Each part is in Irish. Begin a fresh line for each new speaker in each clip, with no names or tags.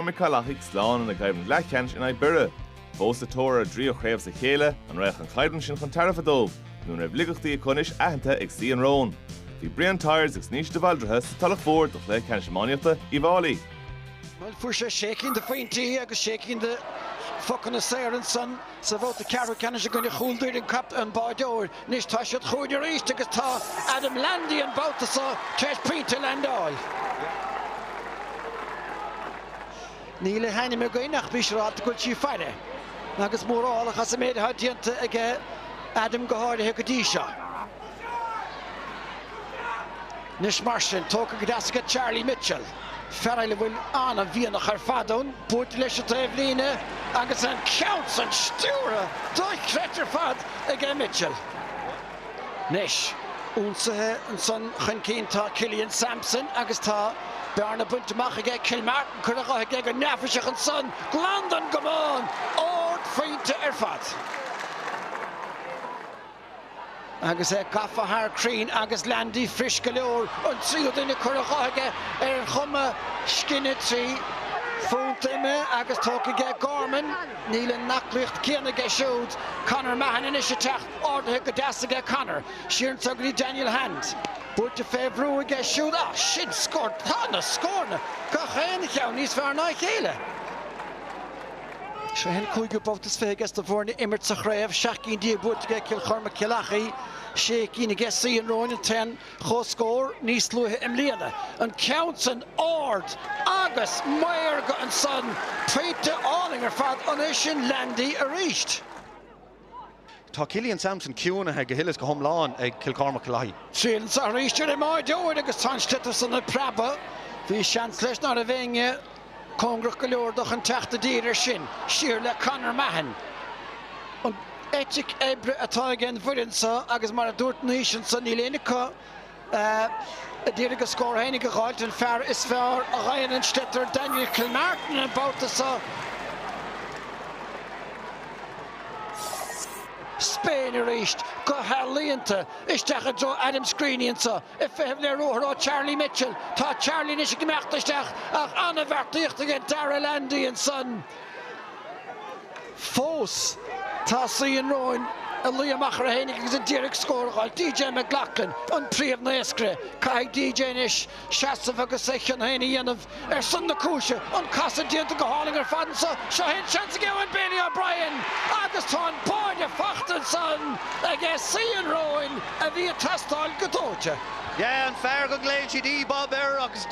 Chormaic-Cill Achaidh slán ina gcoimhlint leathcheannais in aghaidh Bhiorra. Fós sa tóir ar a dtríú chraobh as a chéile, an raghadh an choimhlint sin chun tairbhe dóibh nó an mbeadh laigeachtaí acu anois aitheanta ag Suí an Róin? Bhí Brian Tyers agus Naoise de Bhaldraithe sa Tulach Mhór do Chluiche Ceannais Iománaíochta Uíbh Fháilí. Fuair sé sé cinn de phointí agus sé cinn de phocanna saora ansan. Sa bhabhta ceathrú ceannais i gcoinne Chúil Doire an captaen, báideoir anois tá siad chugainn arís agus tá Adam Landy an babhta seo tar éis pointe a leaindeáil. Níl a hainm againn ach bí siúráilte go bhfuil sí ag faire agus mórálach as an méid atá déanta aige, Adam go háirithe go dtí seo. Anois mar sin, tógtha go deas aige Charlie Mitchell, fear eile a bhfuil an-mhianach ar fad ann buailte leis an taobhlíne agus an ceann san stiúrtha dochreidte ar fad aige Mitchell. Anois, ionsaithe ansan chun cinn tá Killian Sampson agus tá bearna bainte amach aige Kilmartin curtha dhe aige go neafaiseach ansan glan don gcamán! Ardphointe ar fad! Agus é gafa thar Crean agus Landy fuirist go leor, an tríú duine curtha dhe aige ar chuma scine trí phunt ime agus tógtha aige Gorman, níl an aclaíocht céanna aige siúd. Conor Mahon anois ag teacht, ardaithe go deas aige. Conor, siar anseo go dtí Daniel Hand. Buailte fé bhrú aige siúd. Á, sin scór. Tá na scóranna, gach aon cheann, níos fearr ná a chéile. Seo é an cúigiú babhta is fiche aiges na foirne ag imirt sa chraobh, seacht gcinn díobh buaite aige Cill Chormaic-Cill Achaidh, sé cinn aige Suí an Róin, an t-aon chomhscór níos luaithe i mbliana. An ceann sin ard agus maorga ansan, pointe álainn ar fad, an é sin Landy arís? Tá Killian Sampson ciúnaithe go huile is go hiomlán ag Cill Chormaic-Cill Achaidh. Téann sé thar ais go dtí an mbáideoir agus tá an sliotar san ag preabadh, bhí seans leis ná raibh éinne cóngarach go leor dó chun teacht i dtír air sin, siar le Conor Mahon. An eitic oibre atá aige an bhfoireann seo agus mar a dúirt Naoise anso níl éinne acu D'iarraidh a scór fhéinig a dh'fháilt, an fear is fearr a gheibheann an sliotar, Daniel Kilmartin, an babhta so. Spain arís, go healaíonta, isteach i dtreo Adam Screeney anseo, ag feitheamh le ruathar ó Charlie Mitchell. Tá Charlie anois ag imeacht isteach ach an-bheartaíocht aige Darragh Landy ansan. fós. Tá Suí an Róin ag luí amach orthu fhéinig agus a d'iarraidh scór a dh'fháil. D.J. McLoughlin, an príomh-naoscaire. Caithfidh D.J. anois seasamh agus a chion féin a dhéanamh ar son na cúise. An casadh déanta go hálainn ar fad anso. Seo é an seans ag Eoin Bailey O'Brien agus tá an báide fachta ansan ag Suí an Róin a bhí ag teastáil go dóite. Yeah, an fear go nglaonn siad E-Bob air agus.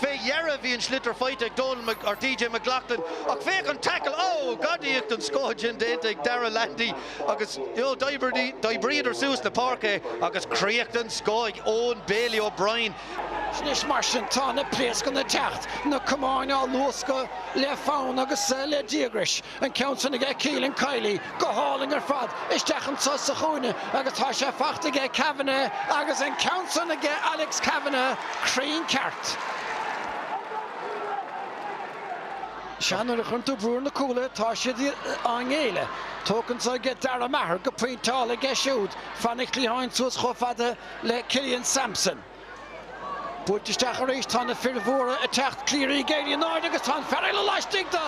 Fé dheireadh bhí an sliotar faighte ag Donal, or DJ, McLoughlin ach féach an tackle, oh! Gadaíocht den scoth sin déanta ag Darragh Landy agus d'oibríodar suas an pháirc é agus críoch den scoth ag Eoin Bailey O'Brien. Anois mar sin tá na pléascanna ag teacht, na camáin á luascadh le fonn agus le díograis. An ceann san aige Cillian Kiely go hálainn ar fad isteach anseo sa chúinne agus tá sé faighte aige Kavanagh agus an ceann san aige Alex Kavanagh cruinn ceart. Sea, nuair a chuireann tú brú ar na cúlaithe, tá siad á ngéilleadh. Tógtha anseo aige Dara Maher go pointeála aige siúd, fan an chliatháin suas chomh fada le Killian Sampson. Buailte isteach arís, tá na fir mhóra ag teacht, Cleary ag éirí in airde agus tá an fear eile laistigh de,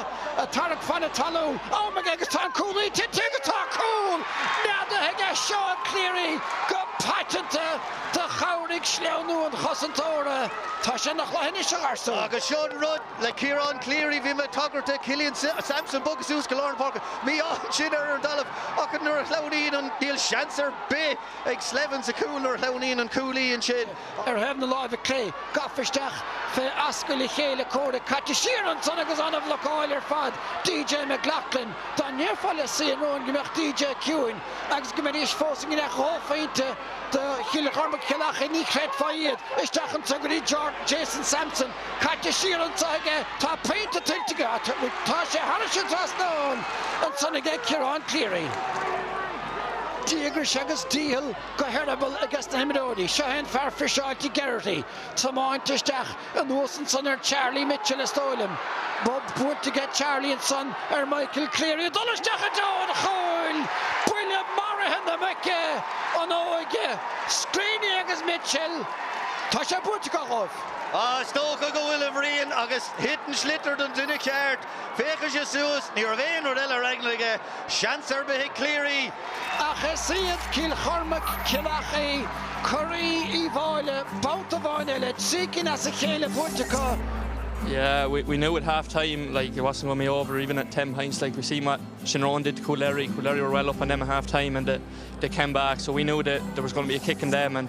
ag tarrac fan na talún, am aige agus tá an cúlaí tite agus tá cúl neadaithe aige, Seán Cleary, go paiteanta, do chabhraigh sleamhnú an chosantóra, tá sé ina chluiche anois, a gharsúin. Agus seo an rud le Ciarán Cleary, bhí mé ag tagairt do Killian Sampson bogadh suas go lár na páirce, mí-ádh ansin ar an dtalamh ach nuair a shleamhnaíonn an, níl seans ar bith. Ag Slevin sa chúl nuair a shleamhnaíonn an cúlaí ansin. Ar thaobh na láimhe clé, gafa isteach fé ascaill a chéile comhraic, caite siar ansan agus ana-bhlocáil ar fad DJ McLoughlin. Dá ndéarfá le Suí an Róin go mbeadh DJ ciúin agus go mbeidís fós i ngiorracht dhá phointe do Chill Chormaic Chill Achaidh ní chreidfeá iad. Isteach anso go dtí Jason Sampson. Caite siar anso aige. Tá pointe tuillte aige. Tá sé thairis an trasnán ansan aige Ciarán Cleary. Díograis agus dícheall go heireaball i gcás na n-imreoirí. Seo é an fear friseáilte Geraghty, tiomáinte isteach anuas ansan ar Charlie Mitchell, is dóigh liom. Bob buailte aige Charlie ansan ar Michael Cleary, ag dul isteach i dtreo an chúil! Buille maraithe na muice! An óige! Screeney agus Mitchell, tá sé buaite acu dhóibh. Is dócha go bhfuil, a Bhriain, agus thit an sliotar don duine ceart. Féachadh sé suas, ní raibh aon rud eile ar eagla aige seans ar bith ag Cleary. Ach is iad Cill Chormaic, Cill Achaidh, curaí Uí Mháille babhta amháin eile, trí cinn as a chéile buaite acu. Yeah we we knew at half time like it wasn't going to be over even at 10 points like we see what Shinron did to Coolderry Coolderry were well up on them at half time and they came back so we knew that there was going to be a kick in them and